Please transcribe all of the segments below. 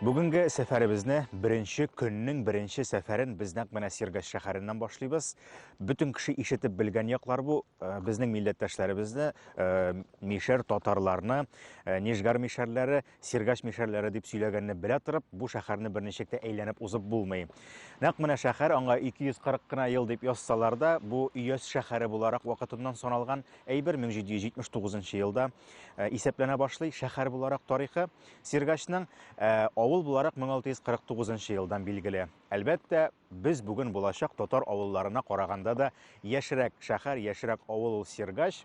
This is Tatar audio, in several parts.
Бүгенге сәфәребезне беренче көннең беренче сәфәрен без нәкъ менә Сергаш шәһәреннән башлыйбыз. Бөтен кеше ишетеп белгән яклар бу. Э, безнең милләттәшләребезне, э, мишәр татарларны, э, Нижгар мишәрләре, Сергаш мишәрләре дип сөйләгәнне белә торып, бу шәһәрне берничек тә әйләнеп узып булмый. Нәкъ менә шәһәр аңа 240 кына ел дип язсалар да, бу Өяз шәһәре буларак вакытыннан саналган әйбер 1779 елда исәпләнә башлый. Шәһәр буларак тарихы Сергачның э, авыл буларак 1649 елдан билгеле. Әлбәттә, без бүген булачак татар авылларына караганда да яшерәк шәһәр, яшерәк авыл ул Сергач.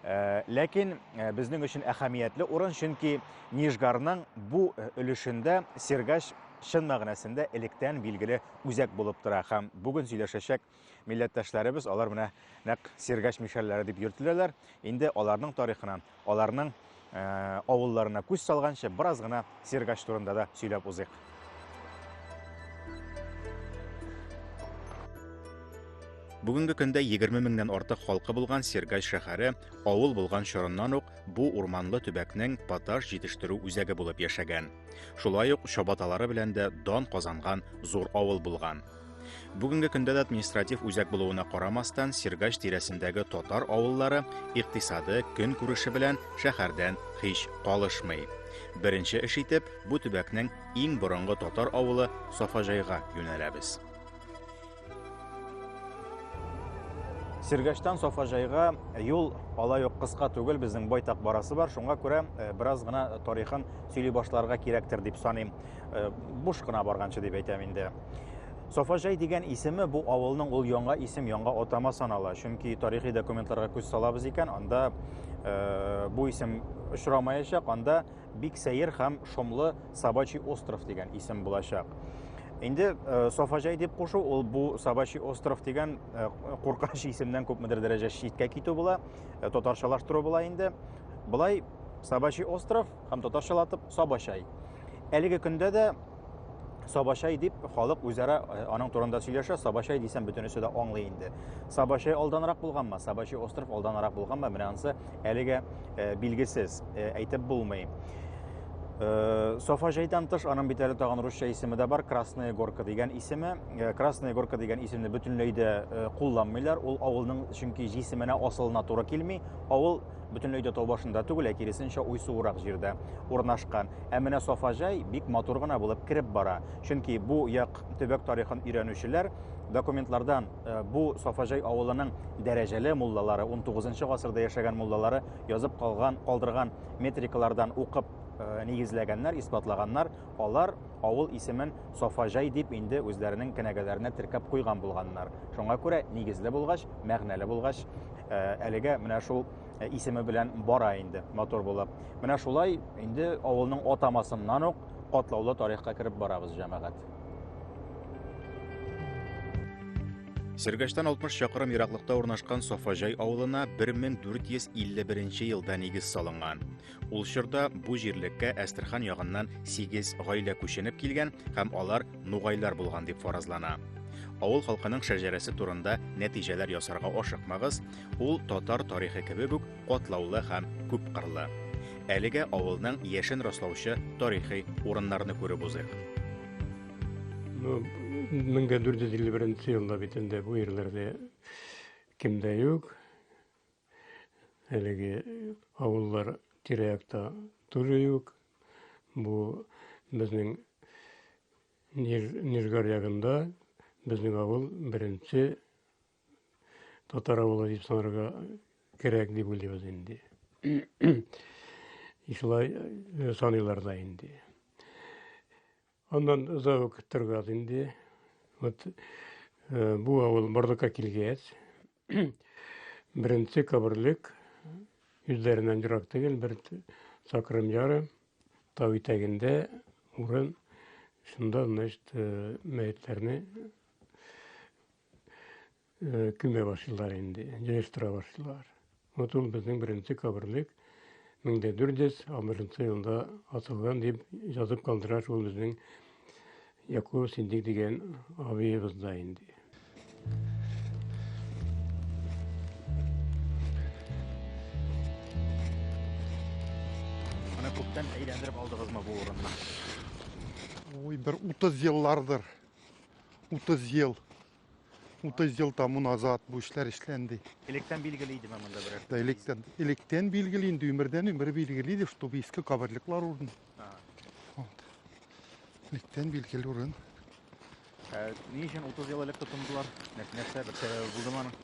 Э, ләкин э, безнең өчен әһәмиятле урын, чөнки Нижгарның бу өлешендә Сергач чын мәгънәсендә электән билгеле үзәк булып тора һәм бүген сөйләшәчәк милләттәшләребез, алар менә нәкъ Сергач мишәрләре дип йөртеләләр. Инде аларның тарихына, аларның э, авылларына күз салганчы бераз гына Сергач турында да сөйләп узыйк. Бүгенге көндә 20 меңнән артык халкы булган Сергай шәһәре авыл булган чорыннан ук бу урманлы төбәкнең поташ җитештерү үзәге булып яшәгән. Шулай ук чабаталары белән дә дан казанган зур авыл булган. Бүгенге көндә дә административ үзәк булуына карамастан, Сергач тирәсендәге татар авыллары икътисады, көн күреше белән шәһәрдән һич калышмый. Беренче эш итеп, бу төбәкнең иң борынгы татар авылы Сафаҗайга юнәләбез. Сергачтан Сафаҗайга юл алай ук кыска түгел, безнең байтак барасы бар. Шуңа күрә э, бераз гына тарихын сөйли башларга кирәктер дип саныйм. Э, буш кына барганчы дип әйтәм инде. Сафаҗай дигән исеме бу авылның ул яңа исем, яңа атама санала. Чөнки тарихи документларга күз салабыз икән, анда э, бу исем очрамаячак, анда бик сәер һәм шомлы Сабачий остров дигән исем булачак. Инде э, Сафаҗай дип кушу ул бу Сабачий остров дигән э, куркыныч исемнән күпмедер дәрәҗә читкә китү була, э, татарчалаштыру була инде. Былай Сабачий остров һәм татарчалатып Сабачай. Әлеге көндә дә Сабачай дип халык үзара э, аның турында сөйләшә. Сабачай дисәм бөтенесе дә аңлый инде. Сабачай алданрак булганмы? Сабачай остров алданрак булганмы? Менә ансы әлегә э, билгесез, э, әйтеп булмый. Э, Софа жайдан тыш аның бит әле тагын русча исеме дә бар, Красная горка дигән исеме. Э, Красная горка дигән исемне бөтенләй дә э, кулланмыйлар. Ул авылның чөнки җисеменә асылына туры килми. Авыл бөтенләй дә тау башында түгел, ә киресенчә уйсуырак җирдә урнашкан. Ә менә Сафаҗай бик матур гына булып кереп бара. Чөнки бу як төбәк тарихын өйрәнүчеләр документлардан э, бу Сафаҗай авылының дәрәҗәле муллалары, 19 гасырда яшәгән муллалары язып калган, калдырган метрикалардан укып э, нигезләгәннәр, исбатлаганнар. Алар авыл исемен Сафаҗай дип инде үзләренең кенәгәләренә теркәп куйган булганнар. Шуңа күрә нигезле булгач, мәгънәле булгач, э, әлегә менә шул э, исеме белән бара инде матур булып. Менә шулай инде авылның атамасыннан ук катлаулы тарихка кереп барабыз, җәмәгать. Сергәштән 60 чакрым ераклыкта урнашкан Сафаҗай авылына 1451 елда нигез салынган. Ул чорда бу җирлеккә Әстерхан ягыннан сигез гаилә күченеп килгән һәм алар нугайлар булган дип фаразлана. Авыл халкының шәҗәрәсе турында нәтиҗәләр ясарга ашыкмагыз, ул татар тарихы кебек үк катлаулы һәм күп кырлы. Әлегә авылның яшен раслаучы тарихи урыннарны күреп узыйк. Ну, 1451 елда бит инде бу ерләрдә кем дә юк. әлеге авыллар тирә-якта тоже юк. Бу безнең Нижгар ягында безнең авыл беренче татар авылы дип санарга кирәк дип уйлыйбыз инде. Шулай э, саныйлар да инде. Аннан озак ук торгаз инде. Вот э, бу авыл Бардука килгәч, Беренче каберлек үзләреннән ерак түгел, бер чакрым ярым тау итәгендә урын. Шунда, значит, э, мәетләрне э, күмә башлыйлар инде, җыештыра башлыйлар. Вот ул безнең беренче каберлек 1460 елда атылган дип язып калдыра шул безнең Якур Сиддик дигән абыегыз да инде. Менә күптән әйләндереп алдыгызмы бу урынны? Ой, бер 30 еллардыр. 30 ел. 30 ел тому назад бу эшләр эшләнде. Электән билгеле идеме монда берәр? Да, электән, электән билгеле инде өмердән өмер билгеле иде, чтобы иске каберлеклар урын. Вот. Электән билгеле урын. Ә, ни өчен 30 ел элек тотындылар? Нәрсә бер сәбәбе булдымы аның?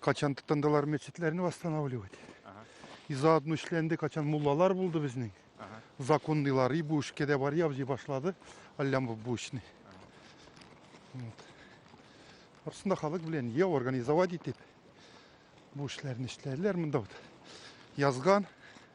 Качан тотындылар мәчетләрне восстанавливать. Ага. И заодно эшләнде, качан муллалар булды безнең. Ага. Законныйлар, и бу эшкә дә бар ябзый башлады, Аллямов бу эшне. Вот. Арсында халык белән я организовать итеп бу эшләрне эшләделәр монда вот. Язган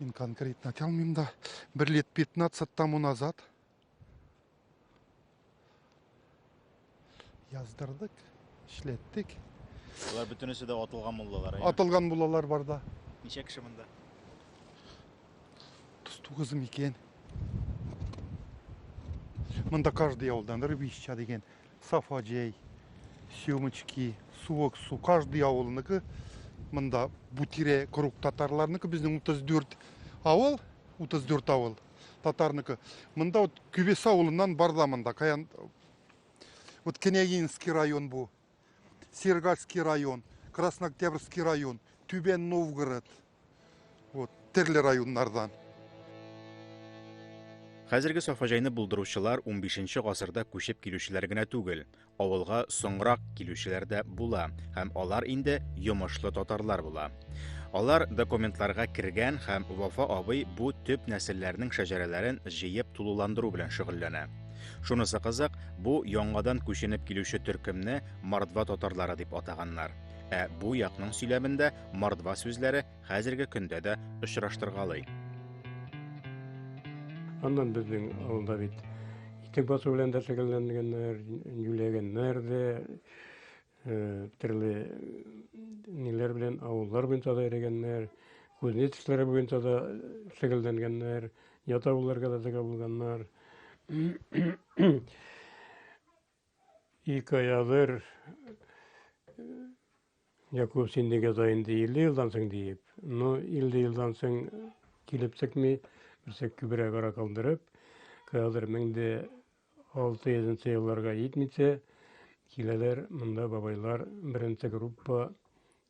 Мин конкретно айта алмыйм да. Бер лет 15 тому назад яздырдык, эшләттек. Алар бөтенесе дә атылган булдылар. Атылган булалар бар да. Ничә кеше монда? 39 микән. Монда каждый авылдан Рыбища дигән Сафа җәй, съемочки, суык су, каждый авылыныкы. Монда бу тирә круг татарларныкы, безнең 34 авыл, 34 авыл татарныкы. Монда вот Күбес авылыннан бар да монда. Каян вот Княгинский район бу. Сергальский район, Краснооктябрьский район, Түбән Новгород. Вот, төрле районнардан. Хәзерге Сафаҗайны булдыручылар 15 гасырда күчеп килүчеләр генә түгел, авылга соңрак килүчеләр дә була һәм алар инде йомышлы татарлар була. Алар документларга кергән һәм Вафа абый бу төп нәселләрнең шәҗәрәләрен җыеп тулыландыру белән шөгыльләнә. Шунысы кызык, бу яңадан күченеп килүче төркемне мордва татарлары дип атаганнар. Ә бу якның сөйләмендә Мордва сүзләре хәзерге көндә дә очраштыргалый. Аннан безнең авылда бит итек басу белән дә шөгыльләнгәннәр, юләгәннәр дә, э, төрле ниләр белән авыллар буенча да йөргәннәр, кузнец эшләре буенча да шөгыльләнгәннәр, ят авылларга да чыга булганнар. И каядыр Якуб син нигә да инде 50 елдан соң диеп, но 50 елдан соң килеп текми, берсә күбрәк ара калдырып, каядыр 1600 елларга итмичә киләләр монда бабайлар беренче группа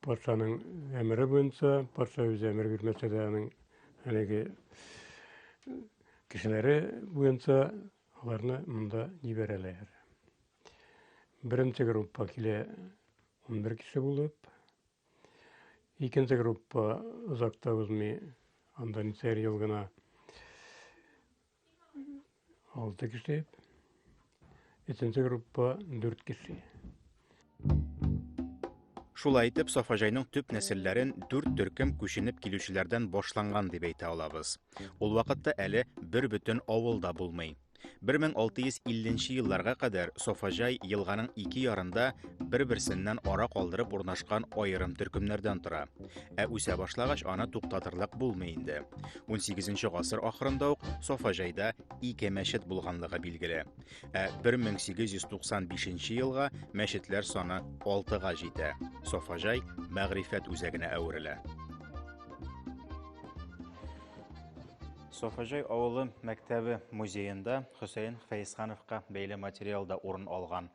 Патшаның әмере буенча, патша үзе әмер бирмәсә дә аның әлеге кешеләре буенча аларны монда җибәрәләр. Беренче группа килә 11 кеше булып. Икенче группа озакта узмый, анда ничәр ел гына Алты кеше. Өченче группа дүрт кеше. Шулай итеп, Сафаҗайның төп нәселләрен дүрт төркем күченеп килүчеләрдән башланган дип әйтә алабыз. Ул вакытта әле бер бөтен авыл да булмый. 1650 елларга кадәр Софаҗай елганың ике ярында бер-берсеннән ара калдырып урнашкан аерым төркемнәрдән тора. Ә үсә башлагач аны туктатырлык булмый инде. 18 гасыр ахырында ук Сафа җайда ике мәчет булганлыгы билгеле. Ә 1895 елга мәчетләр саны 6-га җитә. Сафа җай мәгърифәт үзәгенә әверелә. Софажай авылы мәктәбе музеенда Хөсәен Фәйсхановка бәйле материалда урын алган.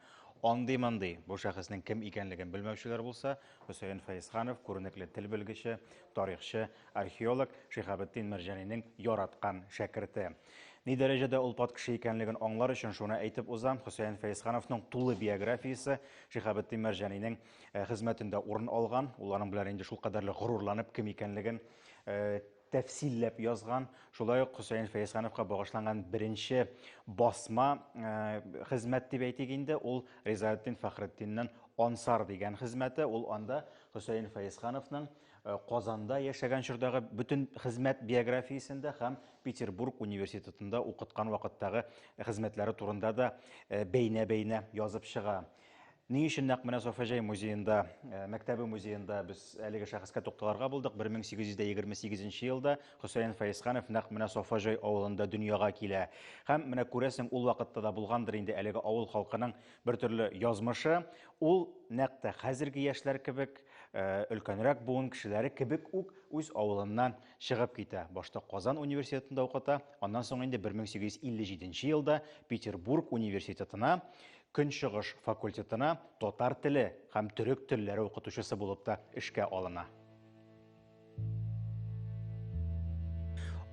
Андый-мандый бу шәхеснең кем икәнлеген белмәүчеләр булса, Хөсәен Фәйсханов, күренекле тел белгече, тарихчы, археолог, Шиһабетдин Мәрҗанинең яраткан шәкерте. Ни дәрәҗәдә ул пат кеше икәнлеген аңлар өчен шуны әйтеп узам, Хөсәен Фәйсхановның тулы биографиясе Шиһабетдин Мәрҗанинең э, хезмәтендә урын алган. Ул аның белән инде шулкадәрле горурланып, кем икәнлеген э, тәфсилләп язган, шулай ук Хөсәен Фәйсхановка багышланган беренче басма хезмәт дип әйтик инде, ул Ризаэддин Фәхретдиннең Ансар дигән хезмәте, ул анда Хөсәен Фәйсхановның Э, Казанда яшәгән чордагы бөтен хезмәт биографиясендә һәм Петербург университетында укыткан вакыттагы хезмәтләре турында да э, бәйнә-бәйнә язып чыга. Ни өчен нәкъ менә Софаҗай музеенда, э, мәктәбе музеенда без әлеге шәхескә тукталырга булдык. 1828 елда Хөсәен Фәйсханов нәкъ менә Софаҗай авылында дөньяга килә. Һәм менә күрәсең, ул вакытта да булгандыр инде әлеге авыл халкының бер төрле язмышы. Ул нәкъ тә хәзерге яшьләр кебек, э, өлкәнрәк буын кешеләре кебек үк үз авылыннан чыгып китә. Башта Казан университетында укыта, аннан соң инде 1857 елда Петербург университетына Көнчыгыш факультетына татар теле һәм төрек телләре укытучысы булып та эшкә алына.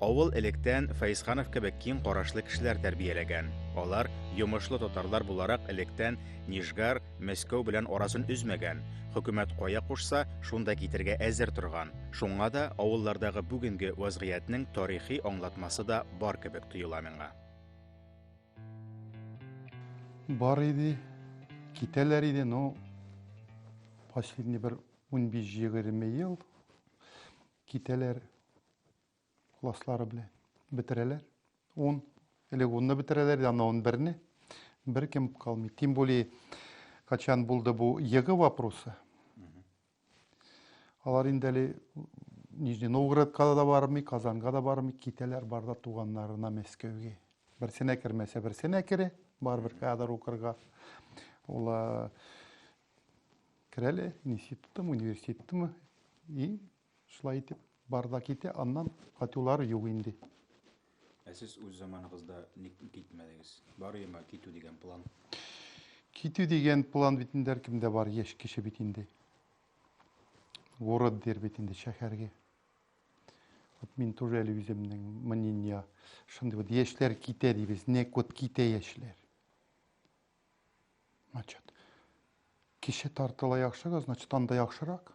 Авыл электән Фәйсханов кебек киң карашлы кешеләр тәрбияләгән. Алар, йомышлы татарлар буларак, электән Нижгар, Мәскәү белән арасын өзмәгән, хөкүмәт кая кушса, шунда китергә әзер торган. Шуңа да авыллардагы бүгенге вазгыятьнең тарихи аңлатмасы да бар кебек тоела миңа. Бар иде, китәләр иде, но последний бер 15-20 ел китәләр класслары белән бетерәләр. 10 элек 10 бетерәләр, аны 11-не беркем калмый. Тем более, качан булды бу ЕГЭ вопросы, Алар инде әле Нижний Новгородка да бармый, Казанга да бармый, китәләр бар да туганнарына Мәскәүгә. Берсенә кермәсә, берсенә кере, барыбер кадр укырга. Ул керәле институттымы, университеттымы, и шулай итеп бар да китә, аннан кайтулары юк инде. Ә сез үз заманыгызда ник китмәдегез? Бар йома китү дигән план. Китү дигән план бит инде һәркемдә бар, яшь кеше бит инде. Город дер бит инде шәһәргә. Вот мин тоже әле үземнең мнение шундый вот яшьләр китә дибез, нәк вот китә яшьләр. Значит, кеше тартыла яхшыга, значит, анда яхшырак.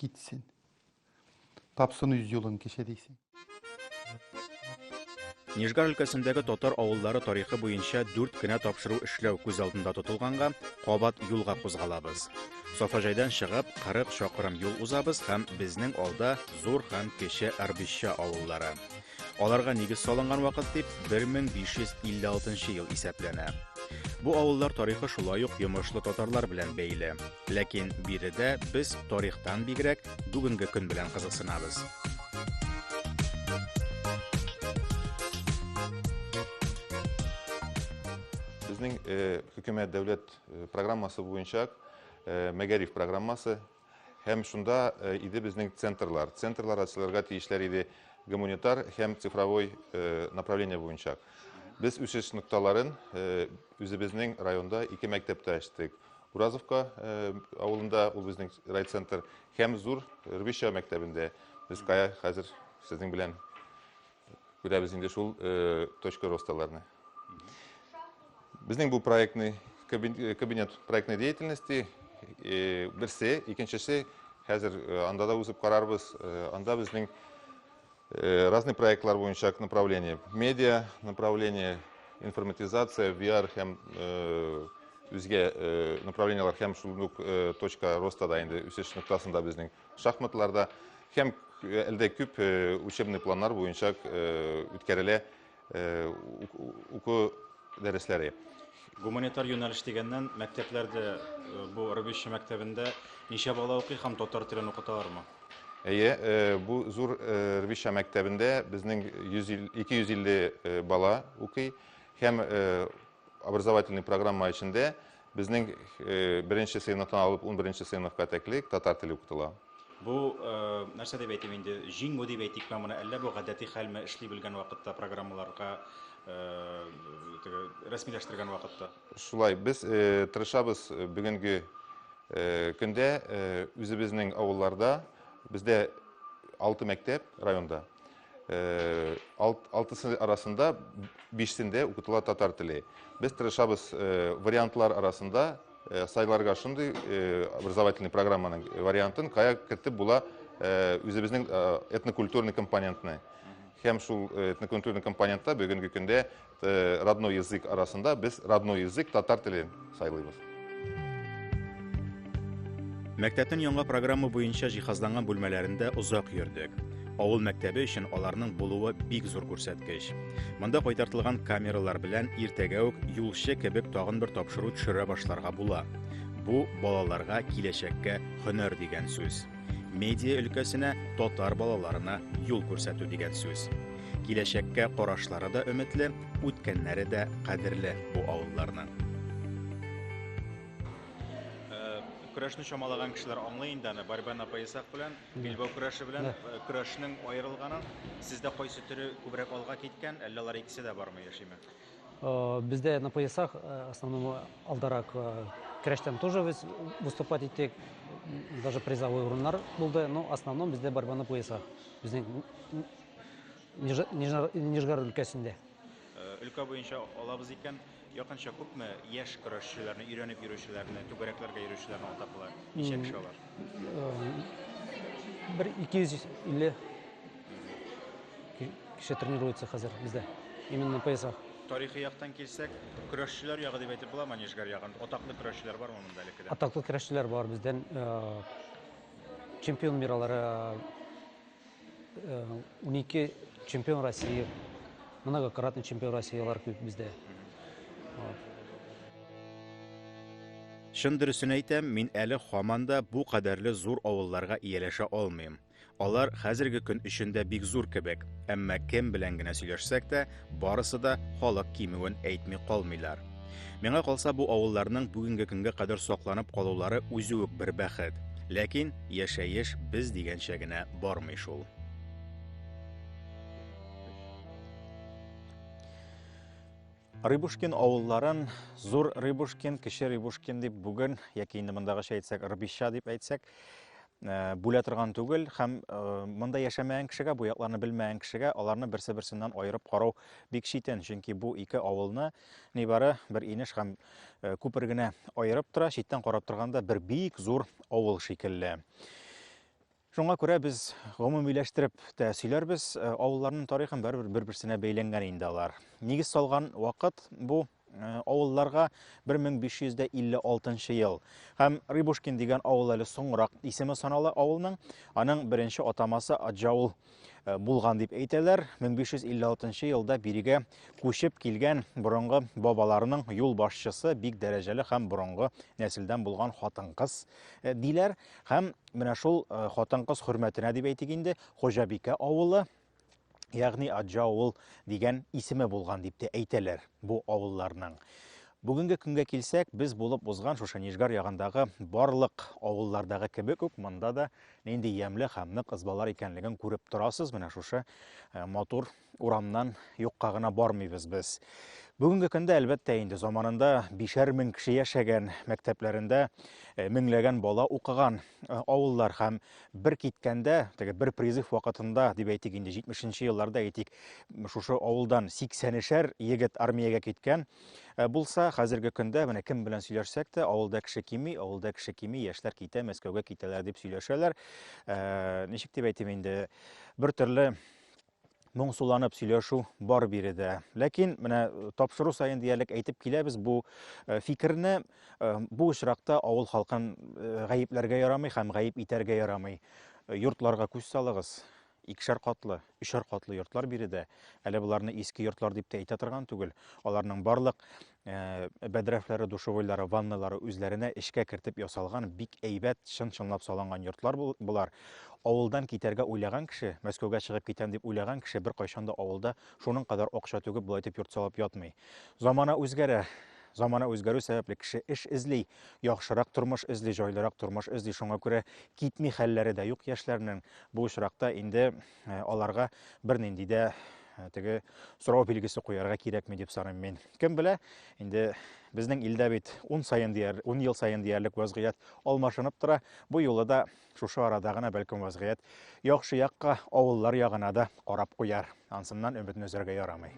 Китсен. Тапсын үз юлын кеше дисең. Нижгар өлкәсендәге татар авыллары тарихы буенча дүрт кенә тапшыру эшләү күз алдында тотылганга, кабат юлга кузгалабыз. Сафаҗайдан чыгып, 40 чакрым юл узабыз һәм безнең алда зур һәм кече Арбища авыллары. Аларга нигез салынган вакыт дип 1556 ел исәпләнә. Бу авыллар тарихы шулай ук йомышлы татарлар белән бәйле. Ләкин биредә без тарихтан бигрәк бүгенге көн белән кызыксынабыз. Безнең хөкүмәт дәүләт программасы буенча мәгариф программасы Һәм шунда э, иде безнең центрлар. Центрлар ачылырга тиешләр иде гуманитар һәм цифровой э, направление буенча. Без үсеш нокталарын э, үзебезнең районда ике мәктәптә ачтык. Уразовка авылында ул безнең райцентр һәм зур Рвища мәктәбендә. Без кая хәзер сезнең белән Күрәбез инде шул точка росталарны. Безнең бу проектный кабинет проектной деятельности берсе, икенчесе хәзер анда да узып карарбыз. Анда безнең разный проектлар буенча направление, медиа направление, информатизация, VR һәм үзгә направлениеләр һәм шул ук точка роста да инде үсеш ноктасында безнең Шахматларда һәм әлдә күп учебный планнар буенча үткәрелә уку дәресләре. Гуманитар юнәлеш дигәннән, мәктәпләрдә бу Рыбище мәктәбендә ничә бала укый һәм татар телен укыталармы? Әйе, бу зур Рыбище мәктәбендә безнең 250 бала укый һәм образовательный программа эчендә Безнең беренче сыйныфтан алып унберенче сыйныфка тәклек татар теле укытыла. Бу нәрсә дип әйтим инде, җиңү дип әйтикме моны, әллә бу гадәти хәлме эшли белгән вакытта программаларга рәсмиләштергән вакытта? Шулай, без тырышабыз бүгенге көндә үзебезнең авылларда, бездә алты мәктәп районда, алтысы арасында бишсендә укытыла татар теле. Без тырышабыз вариантлар арасында сайларга шундый образовательный программаның вариантын, кая кертеп була үзебезнең этнокультурный компонентны. Һәм шул этнокультурный компонентта бүгенге көндә Э, родной язык арасында без родной язык татар теле сайлыйбыз мәктәпнең яңа программа буенча җиһазланган бүлмәләрендә озак йөрдек авыл мәктәбе өчен аларның булуы бик зур күрсәткеч монда кайтартылган камералар белән иртәгә үк юлчы кебек тагын бер тапшыру төшерә башларга була бу балаларга киләчәккә һөнәр дигән сүз Медиа өлкәсенә татар балаларына юл күрсәтү дигән сүз. Киләчәккә карашлары да өметле, үткәннәре дә кадерле бу авылларның. Э, көрәшне чамалаган кешеләр аңлый инде аны Барбан апа Исак белән Билбау көрәше белән э, көрәшнең аерылганын. Сездә кайсы төре күбрәк алга киткән, әллә алар икесе дә бармы яшиме? Э, бездә на поясах э, основном алдарак э, көрәштән тоже без выступать иттек даже призовой урыннар булды но основном бездә борьба на поясах безнең нижгар өлкәсендә өлкә буенча алабыз икән якынча күпме яшь көрәшчеләрне өйрәнеп йөрүчеләрне түгәрәкләргә йөрүчеләрне атап була ничә кеше алар бер ике йөз илле Кеше тренируется хәзер бездә. Именно на поясах. Тарихи яктан килсәк, көрәшчеләр ягы дип әйтеп буламы Нижгар ягын? Атаклы көрәшчеләр бармы монда әле кедә? Атаклы көрәшчеләр бар бездән э, чемпион миралары 12 э, чемпион России, многократный чемпион России алар күп бездә. Чын дөресен әйтәм, мин әле хаманда бу кадәрле зур авылларга ияләшә алмыйм. Алар хәзерге көн өчен дә бик зур кебек, әмма кем белән генә сөйләшсәк тә, барысы да халык кимүен әйтми калмыйлар. Миңа калса, бу авылларның бүгенге көнгә кадәр сакланып калулары үзе үк бер бәхет. Ләкин яшәеш без дигәнчә генә бармый шул. Рыбушкин авылларын Зур Рыбушкин, Кече Рыбушкин дип бүген, яки инде мондагыча әйтсәк, Рбища дип әйтсәк, Э, бүлә торган түгел һәм э, монда яшәмәгән кешегә бу якларны белмәгән кешегә аларны берсе берсеннән аерып карау бик читен чөнки бу ике авылны нибары бер инеш һәм э, күпер генә аерып тора читтән карап торганда бер бик зур авыл шикелле шуңа күрә без гомумиләштереп тә сөйләрбез авылларның тарихын бәрбер бер берсенә бәйләнгән инде алар нигез салган вакыт бу авылларга 1556 нчы ел һәм Рыбушкин дигән авыл әле соңрак исеме санала авылның. Аның беренче атамасы Аджаул э, булган дип әйтәләр. 1556 елда бирегә күчеп килгән борынгы бабаларының юл башчысы бик дәрәҗәле һәм борынгы нәселдән булган хатын-кыз э, диләр һәм менә шул э, хатын-кыз хөрмәтенә дип әйтик инде, Хожабикә авылы Ягъни Аҗа авыл дигән исеме булган дип тә әйтәләр бу авылларның. Бүгенге көнгә килсәк, без булып узган шушы Нижгар ягындагы барлык авыллардагы кебек үк монда да нинди ямле һәм нык ызбалар икәнлеген күреп торасыз. Менә шушы э, матур урамнан юкка гына бармыйбыз без. Бүгенге көндә әлбәттә инде заманында бишәр мең кеше яшәгән, мәктәпләрендә э, меңләгән бала укыган э, авыллар һәм бер киткәндә, теге бер призыв вакытында, дип әйтик инде, 70 нче елларда әйтик, шушы авылдан 80-шәр егет армиягә киткән э, булса, хәзерге көндә менә кем белән сөйләшсәк тә, авылда кеше кими, авылда кеше кими, яшьләр китә, Мәскәүгә китәләр дип сөйләшәләр. Э, ничек дип әйтим инде, бер төрле моңсуланып сөйләшү бар биредә. Ләкин менә э, тапшыру саен диярлек әйтеп киләбез бу э, фикерне. Э, бу очракта авыл халкын гаепләргә ярамый һәм гаеп итәргә ярамый. Йортларга күз салыгыз. Икшәр катлы, өчәр катлы йортлар биредә. Әле боларны иске йортлар дип тә әйтә торган түгел. Аларның барлык Э, бәдрәфләре душевойлары ванналары үзләренә эшкә кертеп ясалган бик әйбәт чын чынлап салынган йортлар болар авылдан китәргә уйлаган кеше мәскәүгә чыгып китәм дип уйлаган кеше бер кайчанда авылда шуның кадәр акча түгеп болай итеп йорт салып ятмый замана үзгәрә замана үзгәрү сәбәпле кеше эш эзли яхшырак тормыш эзли җайлырак тормыш эзли шуңа күрә китми хәлләре дә юк яшьләрнең бу очракта инде Э, аларга бернинди дә э, теге сорау билгесе куярга кирәкми дип саныйм мин. Кем белә, инде безнең илдә бит 10 саен дияр, 10 ел саен диярлек вазгыять алмашынып тора. Бу юлы да шушы арада гына бәлкем вазгыять яхшы якка, авыллар ягына да карап куяр. Ансыннан өметне өзәргә ярамый.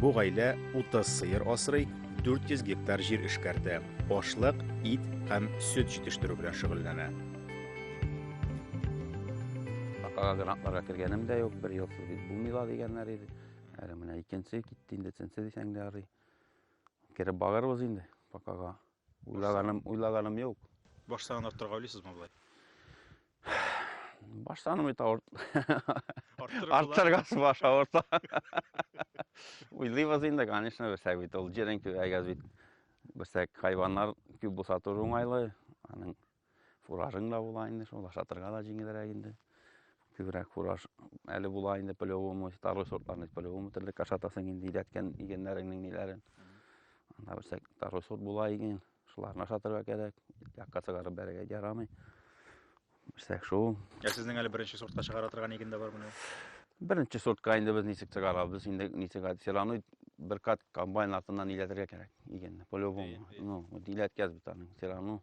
Бу гаилә 30 сыер асрый, 400 гектар җир эшкәртә, ашлык, ит һәм сөт җитештерү белән шөгыльләнә. Башкага грантларга кергәнем дә юк, бер елсыз бит булмый ла дигәннәр иде. Әле менә икенче китте инде, өченче дисәң дә ярый. Кереп барырбыз инде бакага. Уйлаганым, уйлаганым юк. Баш санын арттырырга уйлыйсызмы болай? Баш саным бит авырт. Арттыргасы баш авырта. Уйлыйбыз инде, конечно, берсәк бит ул җирен күбәйгәз бит. Берсәк хайваннар күп булса туры уңайлы. Аның Фуражың да була инде шул, ашатырга да җиңелрәк инде. Күбрәк фураж әле була инде по-любому, второй сортларны по-любому терлек ашатасың инде идәткән игеннәреңнең ниләрен. Анда берсә второй сорт була иген, шуларны ашатырга кирәк, якка чыгарып бәрергә ярамый. Берсә шул. Ә сезнең әле беренче сортка чыгара торган иген дә бар менә. Беренче сортка инде без ничек чыгарабыз, инде ничек все равно бер кат комбайн артыннан иләтергә кирәк игенне, по-любому. Ну, вот иләткәз бит аның, все равно.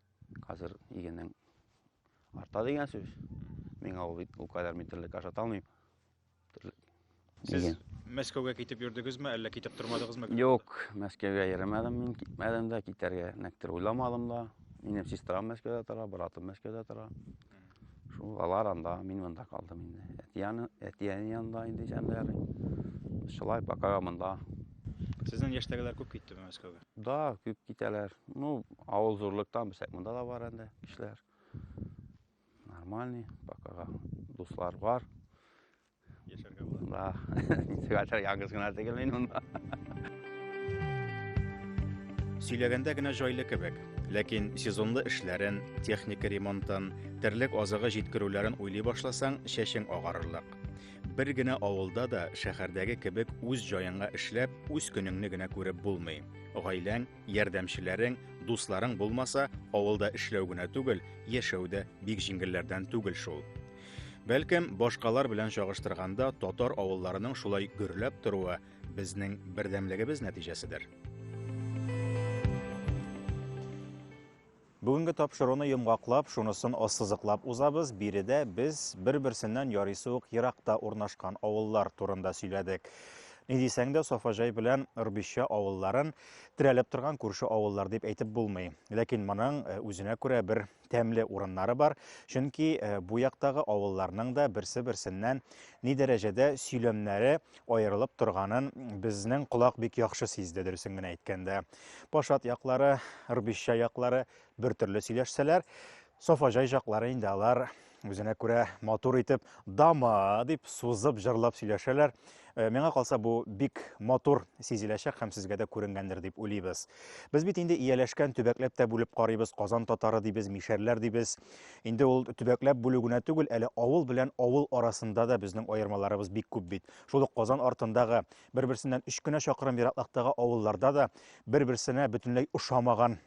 Хәзер игенең арта дигән сүз. Миңа ул бит ул кадәр мин терлек ашата алмыйм. Терлек. Сез Иген. Мәскәүгә китеп йөрдегезме, әллә китеп тормадыгызмы? Юк, Мәскәүгә йөремәдем мин, китмәдем дә, китәргә нәктер уйламадым да. Минем сестрам Мәскәүдә тора, братым Мәскәүдә тора. Шул алар анда, мин монда калдым инде. Әтияне, әтияне янында инде җанлар. Шулай пока монда. Сезнең яшьтәгеләр күп китте Мәскәүгә? Да, күп китәләр. Ну, авыл зурлыктан бисәк монда да бар инде кешеләр. Нормальный, пока дуслар бар. яшәргә була. Да. Хәтер яңгыз гына түгел мин монда. Сөйләгәндә генә җайлы кебек, ләкин сезонлы эшләрен, техника ремонтын, терлек азыгы җиткерүләрен уйлый башласаң, чәчең агарырлык. Бер генә авылда да шәһәрдәге кебек үз җаеңа эшләп, үз көнеңне генә күреп булмый. Гаиләң, ярдәмчеләрең, дусларың булмаса, авылда эшләү генә түгел, яшәү дә бик җиңелләрдән түгел шул. Бәлкем, башкалар белән чагыштырганда татар авылларының шулай гөрләп торуы безнең бердәмлегебез нәтиҗәседер. Бүгенге тапшыруны йомгаклап, шунысын ассызыклап узабыз. Биредә без бер-берсеннән ярыйсы ук еракта урнашкан авыллар турында сөйләдек. Ни дисәң дә, Сафаҗай белән Рбища авылларын терәлеп торган күрше авыллар дип әйтеп булмый. Ләкин моның э, үзенә күрә бер тәмле урыннары бар. Чөнки э, бу яктагы авылларның да берсе-берсеннән ни дәрәҗәдә сөйләмнәре аерылып торганын безнең колак бик яхшы сизде, дөресен генә әйткәндә. Пашат яклары, Рбища яклары бер төрле сөйләшсәләр, Сафаҗай яклары инде алар Үзенә күрә матур итеп дама дип сузып җырлап сөйләшәләр. Э, миңа калса бу бик матур сизеләчәк һәм сезгә дә күренгәндер дип уйлыйбыз. Без бит инде ияләшкән төбәкләп тә бүлеп карыйбыз, Казан татары дибез, мишәрләр дибез. Инде ул төбәкләп бүлү генә түгел, әле авыл белән авыл арасында да безнең аермаларыбыз бик күп бит. Шул ук Казан артындагы бер-берсеннән өч кенә чакрым ераклыктагы авылларда да бер-берсенә бөтенләй ошамаган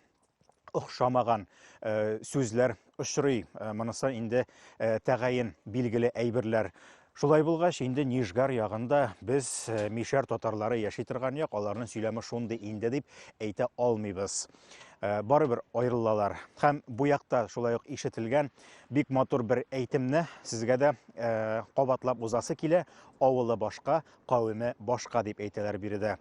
охшамаган э, сүзләр очрый. Э, монысы инде э, тәгаен билгеле әйберләр. Шулай булгач, инде Нижгар ягында без мишәр татарлары яши торган як, аларның сөйләме шундый инде дип әйтә алмыйбыз. Барыбер аерылалар. Һәм бу якта шулай ук ишетелгән бик матур бер әйтемне сезгә дә кабатлап узасы килә. Авылы башка, кавеме башка дип әйтәләр биредә.